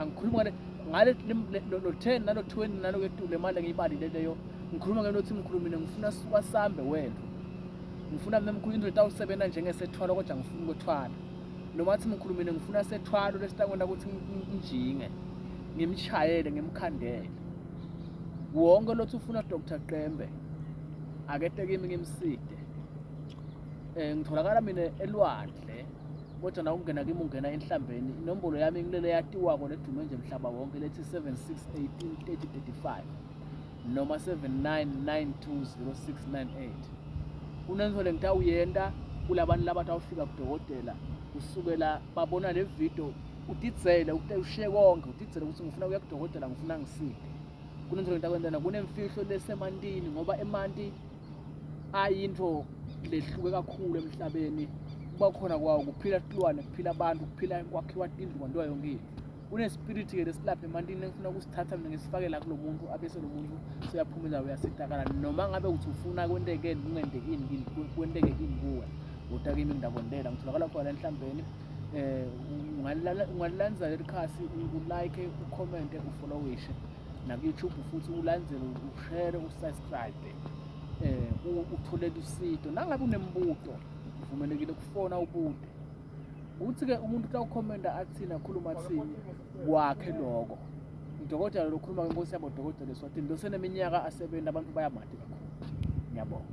angikhuluma ngale no-ten nalo-twenty nalo ketule manje ngiyibalile leyo ngikhuluma ngento othi ngikhulumile ngifuna suka sambe wethu ngifuna mina mkhulu into etawusebenza njengesethwalo kodwa ngifuna ukwethwala noma athi ngikhulumile ngifuna sethwalo lesitakona ukuthi ngijinge ngimshayele ngimkhandele wonke lothi ufuna Dr Qembe akete kimi ngimside eh ngitholakala mina elwandle kodwa na ukungena kimi ungena enhlambeni inombolo yami ngilele yatiwako nedume nje mhlaba wonke lethi 76183035 noma 79920698 kunento lengitawuyenta kulabantu labatawufika kudokotela kusukela babona le video udidzele ushiye konke udidzele ukuthi ngifuna kuya kudokotela ngifuna ngisiphi kunento lengitakwentana kunemfihlo lesemantini ngoba emanti hayi into lehluke kakhulu emhlabeni kuba khona kwawo kuphila tilwane kuphila abantu kuphila kwakhiwa tindlu kwantiwa yonke into kunespiriti ke lesilapha emantini engifuna ukusithatha mina ngisifake la kulo muntu abese lo muntu seyaphuma indawo uyasitakala noma ngabe ukuthi ufuna kwenteke kungenteki ini kini kwenteke ini kuwe kodwa kimi ngidakwendela ngitholakala khona enhlambeni um ungalilanza leli khasi ulike ucommente ufollowishe naku-youtube futhi ulandele ushere usubscribe um eh, utholele usido nangabe unembuto uvumelekile ukufona ubude kuthi-ke umuntu xa ukhomenta athini akhuluma athini kwakhe lokho udokotela lokhuluma ke nkosi yabo dokotela eswatini loseneminyaka asebenzi abantu bayamadi kakhulu ngiyabonga